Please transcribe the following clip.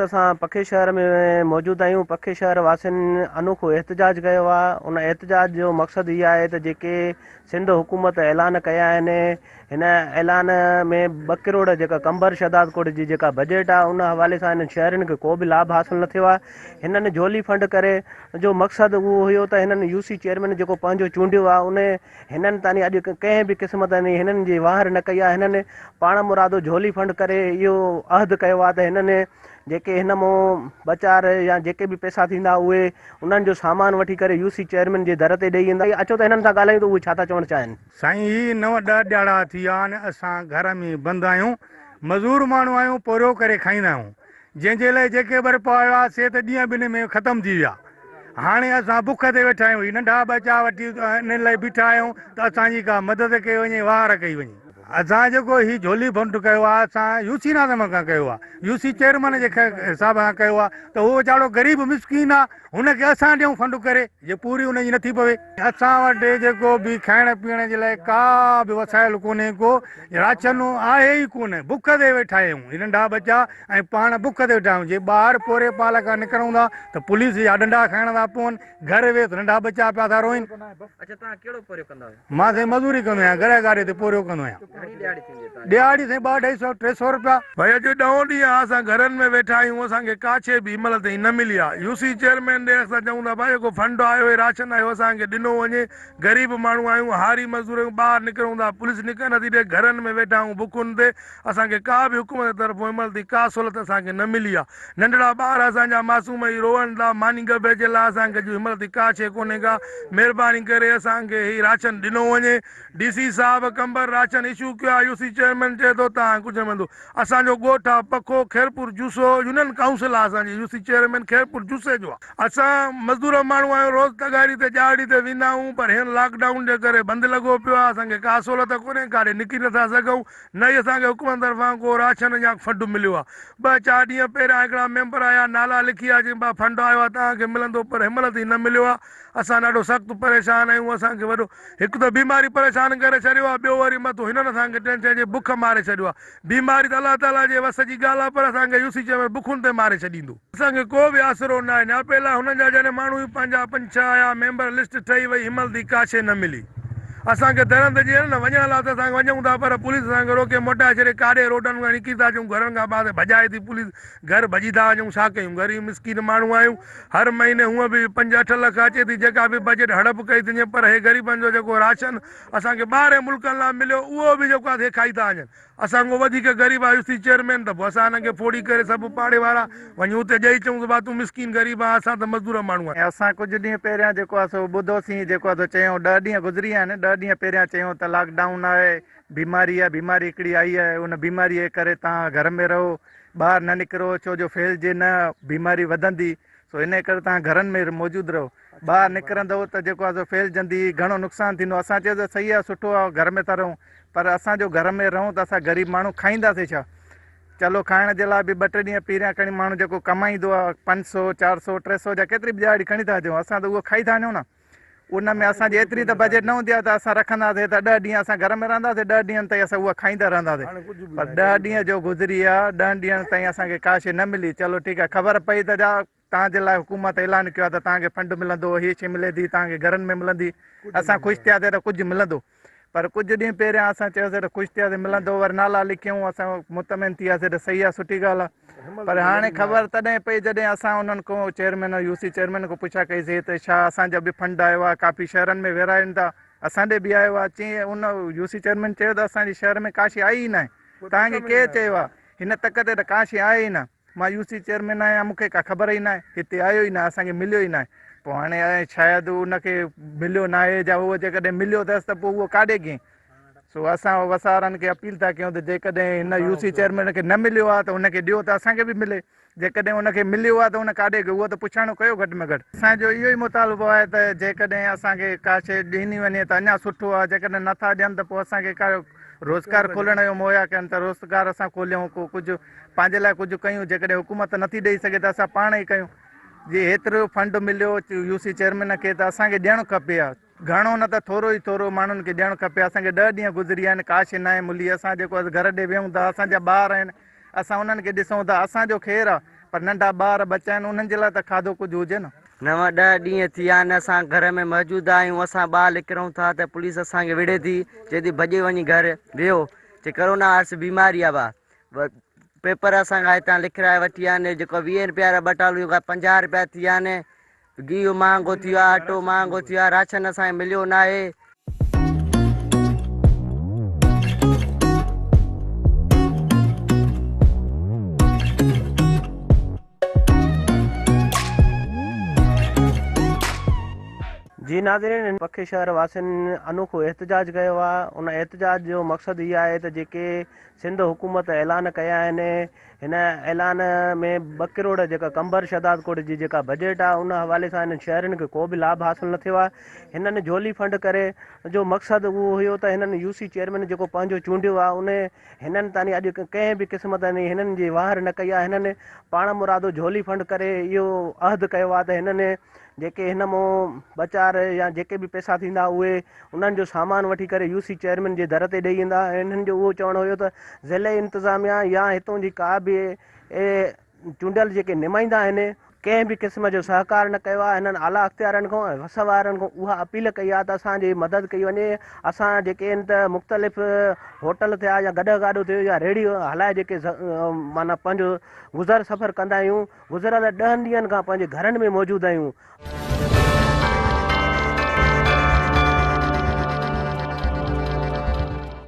اسان پکي شهر ۾ موجود آهيون پکي شهر واسين انوکو احتجاج ڪيو آهي ان احتجاج جو مقصد هي آهي ته جيڪي سنڌ حڪومت اعلان ڪيا آهن هن اعلان ۾ ٻه ڪروڙ جيڪا قمبر شهداد ڪوٽ جي جيڪا بجيٽ آهي ان حوالي سان هنن شهرين کي ڪو به لابھ حاصل نه ٿيو آهي هنن جولي فنڊ ڪري جو مقصد اهو هيو ته هنن يو سي چيئرمين جيڪو پنهنجو چونڊيو آهي ان هنن تاني اڄ ڪنهن به قسم تاني هنن جي واهر نه ڪئي آهي. هنن پاڻ مرادو جهولي ڦنڊ ڪري اهو عهد ڪيو آهي ته هنن جيڪي هن مون ٻه چار يا جيڪي به پئسا ٿيندا اهي انهن جو سامان وٺي ڪري يو سي چيئرمين جي در تي ڏئي ايندا. سائين اچو ته هنن سان ڳالهايون ته اهي ڇا ٿا چوڻ چاهين. سائين هي نو ڏهه ڏهاڙا ٿي ويا آهن اسان گهر ۾ بند آهيون مزور ماڻهو آهيون پورهيو ڪري کائيندا آهيون جنهن جي لاء جيڪي ٻرپا هيا سي ته ڏينهن ٻنهي ۾ ختم ٿي ويا. هاڻي اسان بک تي ويٺا آهيون. هي ننڍا ٻچا وٺي انهن لاء بيٺا آهيون ته اسان جي ڪا مدد ڪئي وڃي، وهنار ڪئي وڃي. اسان جيڪو هي جهولي فنڊ ڪيو آهي اسان يو سي ناظم کان ڪيو آهي. يو سي چيئرمين جي صاحب کان ڪيو آهي ته هو ويچارو غريب مسڪين آهي هن کي اسان ڏيون فنڊ ڪري جي پوري هن جي نٿي پوي. اسان وٽ جيڪو به کائڻ پيئڻ جي لاء ڪا به وسائل ڪونهي ڪو راچن آهي ئي ڪونه بک تي ويٺا آهيون هي ننڍا ٻچا ۽ پاڻ بک تي ويٺا آهيون جي ٻاهر پوري پال کان نڪرون ٿا ته پوليس جا ڏنڊا کائڻا ٿا پون گهر ويس ننڍا ٻچا پيا ٿا روئين اڇا توهان ڪهڙو پورهيو ڪندا آهيو؟ مان سائين مزوري ڪندو آهيان گهريا گاڏي تي پورهيو ڪندو آهيان. ڏهاڙي سائين ٻه اڍائي سئو ٽي سئو رپيا. ڀائي اڄ ڏهون ڏينهن آ اسان گهرن ۾ ويٺا آهيون اسان کي ڪا شئي به هن مهل تائين نه ملي آ يو سي چيئرمين ڏي اسان چئون ٿا ڀائي جيڪو فنڊ آيو آهي راشن آيو اسان کي ڏنو وڃي غريب ماڻهو آهيون هاري مزدور آهيون ٻاهر نڪرون ٿا پوليس نڪرڻ نٿي ڏي گهرن ۾ ويٺا آهيون بکن تي اسان کي ڪا به حڪومت طرفون هن مهل تائين ڪا سهولت اسان کي نه ملي آ ننڍڙا ٻار اسان جا معصوم اهي روئن ٿا ماني ڳڀي جي لاء اسان کي اڄ هن مهل تائين ڪا شئي ڪونهي ڪا مهرباني ڪري اسان کي هي راشن ڏنو وڃي. ڊي سي صاحب قمبر راشن اشو ڪيو آء يو سي چيئرمين چئي ٿو تان ڪجهه مندو اسان جو ڳوٺ آ پکو خيرپور جوسو يونين ڪائونسل آ اسان جي يو سي چيئرمين خيرپور جوسي جو آ اسان مزدور ماڻهو آهيون روز تغاري تي ڄاڙڙي تي ويندا آهيون پر هين لاڪ ڊائون جي ڪري بند لڳو پيو آ اسان کي ڪا سهولت ڪونهي ڪاڏي نڪري نٿا سگهون نه ئي اسان کي حڪومت طرفان ڪو راشن يا فنڊ مليو آ ٻه چار ڏينهن پهريان هڪڙا ميمبر آيا نالا لکي آ چين با فنڊ آيو آ تان کي ملندو پر هنمهل تائين نه مليو آ اسان ڏاڍو سخت پريشان آهيون اسان کي وڏو هڪ ته بيماري پريشان ڪري ڇڏيو آهي ٻيو وري مٿو هنن اسان کي ٽين چئين جي بک ماري ڇڏيو آهي بيماري ته الله تعالي جي وس جي ڳالهه آهي پر اسان کي يوسي چيمر بکن تي ماري ڇڏيندو. اسان کي ڪو به آسرو ناهي نياپي لاء هنن جا جڏهن ماڻهو ئي پنهنجا پنج ڇهه آيا ميمبر لسٽ ٺهي وئي همل ڌي ڪا شيء نه ملي اسان کي درنده جي هنن وڃڻ لاء ته اسان وڃون ٿا پر پوليس اسان کي روڪي موٽائي ڇڏي ڪاڏي روڊن کان نڪري ٿا اچون گهرن کان ٻاهر ڀڄائي ٿي پوليس گهر ڀڄي ٿا وڃون ڇا ڪيون غريب مسڪين ماڻهو آهيون هر مهيني هونء به پنج اٺ لک اچي ٿي جيڪا به بجيٽ هڙپ ڪئي ٿينجي پر هي غريبن جو جيڪو راشن اسان کي ٻاهرين ملڪن لا مليو اهو به جيڪو آهي سي کائي ٿا وڃن اسان کان وڌيڪ غريب آهيو سي چيئرمين ته پوء اسان هنن کي ڦوڙي ڪري سڀ پاڙي وارا وڃي اتي ڄئي چئون ته ڀا تون مسڪين غريب آهي اسان ته مزدور ماڻهو آهيون. اسان ڪجهه ڏينهن پهريان جيڪو آهي سو ٻڌو سين جيڪو آهي سو چيون ڏهه ڏينهن گذري ويا آهن ڏهه ڏينهن پهريان چيون ته لاڪ ڊائون آهي بيماري آهي بيماري هڪڙي آئي آهي ان بيماري جي ڪري تان گهر ۾ رهو ٻاهر نه نڪرو ڇو جو ڦهلجي نه بيماري وڌندي سو انهي ڪري توهان گهرن ۾ موجود رهو ٻاهر نڪرندؤ ته جيڪو آسو ڦهلجندي گهڻو نقصان ٿيندو اسان چيو ته صحيح آ سٺو آ گهر ۾ ٿا رهون پر اسان جو گهر ۾ رهون ته اسان غريب ماڻهو کائينداسي ڇا چلو کائڻ جي لاء به ٻه ٽي ڏينهن پيريان کڻي ماڻهو جيڪو ڪمائيندو آ پنج سو چار سو ٽي سو جا ڪيتري به ڏهاڙي کڻي ٿا اچون اسان ته اهو کائي ٿا وڃون نه ان ۾ اسان جي ايتري ته بجيٽ نه هوندي آهي ته اسان رکنداسين ته ڏهه ڏينهن اسان گهر ۾ رهنداسين، ڏهه ڏينهن تائين اسان اها کائيندا رهنداسين، پر ڏهه ڏينهن جو گذري ويا، ڏهن ڏينهن تائين اسان کي ڪا شيء نه ملي، چلو ٺيڪ آهي خبر پئي ته جا توهان جي لاء حڪومت اعلان ڪيو آهي ته توهان کي فنڊ ملندو، هي شيء ملي ٿي، توهان کي گهرن ۾ ملندي، اسان خوش ٿياسين ته ڪجهه ملندو. پر ڪجهه ڏينهن پهريان اسان چيوسين ته خوش ٿياسين ملندو ور نالا لکيون اسان مطمئن ٿي وياسين ته صحيح آهي سٺي ڳالهه آهي پر هاڻي خبر تڏهن پئي جڏهن اسان انهن کان چيئرمين يو سي چيئرمين کان پڇا ڪئيسين ته ڇا اسان جو به فنڊ آيو آهي ڪافي شهرن ۾ ورهاين ٿا اسان ڏي به آيو آهي چين ان يو سي چيئرمين چيو ته اسان جي شهر ۾ ڪاشي آئي ئي ناهي توهان کي ڪير چيو آهي هن تڪ تي ته ڪاشي آهي ئي نه مان يو سي چيئرمين آهيان مون کي ڪا خبر ئي ناهي هتي آيو ئي ناهي اسان کي مليو ئي ناهي پوء هاڻي الاء شايد ان کي مليو ناهي جا هو جيڪڏهن مليو اٿس ته پوء اهو ڪاڏي گين سو اسان وسارن کي اپيل ٿا ڪيون ته جيڪڏهن هن يو سي چيئرمين کي نه مليو آهي ته ان کي ڏيو ته اسان کي به ملي جيڪڏهن ان کي مليو آهي ته ان ڪاڏي گيو اهو ته پڇاڻو ڪيو گهٽ ۾ گهٽ اسان جو اهو ئي مطالبو آهي ته جيڪڏهن اسان کي ڪا شيء ڏني وڃي ته اڃا سٺو آهي جيڪڏهن نٿا ڏين ته پوء اسان کي ڪا روزگار کولڻ جو مهيا ڪن ته روزگار اسان کوليون ڪو ڪجهه پنهنجي لاء ڪجهه ڪيون جيڪڏهن حڪومت نٿي ڏئي سگهي ته اسان پاڻ ئي ڪيون جي هيترو فنڊ مليو يو سي چيئرمين کي ته اسان کي ڏيڻ کپي ها گهڻو نه ته ٿورو ئي ٿورو ماڻهن کي ڏيڻ کپي اسان کي ڏهه ڏينهن گذري ويا آهن ڪاشي ناهي ملي اسان جيڪو گهر ڏي ويهون ٿا اسان جا ٻار آهن اسان انهن کي ڏسون ٿا اسان جو خير آهي پر ننڍا ٻار ٻچا آهن انهن جي لاء ته کاڌو ڪجهه هجي نه نو ڏهه ڏينهن ٿي ويا آهن اسان گهر ۾ موجود آهيون اسان ٻاهر نڪرون ٿا ته پوليس اسان کي وڙهي ٿي چئي ٿي ڀڄي وڃي گهر ويهو چي ڪرونا وائرس بيماري آهي پيپر اسان کان هتان لکرائي وٺي ويا آهن جيڪو ويهه رپيا وارا ٻه ٽالون اهي پنجاهه رپيا ٿي ويا آهن گيهه مهانگو ٿي ويو آهي اٽو مهانگو ٿي ويو آهي راشن اسان کي مليو نه آهي جي ناظرين ان پکي شهر واسين انوکو احتجاج ڪيو آهي ان احتجاج جو مقصد هي آهي ته جيڪي سنڌ حڪومت اعلان ڪيا آهن هن اعلان ۾ ٻه ڪروڙ جيڪا قمبر شهدادڪوٽ جي جيڪا بجيٽ آهي ان حوالي سان هنن شهرين کي ڪو به لاڀ حاصل نه ٿيو آهي هنن جهولي فنڊ ڪري جو مقصد اهو هيو ته هنن يو سي چيئرمين جيڪو پنهنجو چونڊيو آهي ان هنن تاني اڄ ڪنهن به قسم تاني هنن جي واهر نه ڪئي آهي هنن پاڻ مرادو جهولي فنڊ ڪري اهو عهد ڪيو آهي ته هنن جيڪي هن مون ٻه چار يا جيڪي به پئسا ٿيندا اهي انهن جو سامان وٺي ڪري يو سي چيئرمين جي در تي ڏئي ايندا ۽ انهن جو اهو چوڻ هيو ته ضلعي انتظاميا يا هتون جي ڪا به چونڊيل جيڪي نمائندا آهن ڪنهن به قسم جو سهڪار نه ڪيو آهي هنن اعليٰ اختيارين کان ۽ وس وارن کان اها اپيل ڪئي آهي ته اسان جي مدد ڪئي وڃي اسان جيڪي ان ته مختلف هوٽل ٿيا يا گڏهه گاڏو ٿيو يا ريڙهيون هلائي جيڪي معنيٰ پنهنجو گذر سفر ڪندا آهيون گذريل ڏهن ڏينهن کان پنهنجي گهرن ۾ موجود آهيون.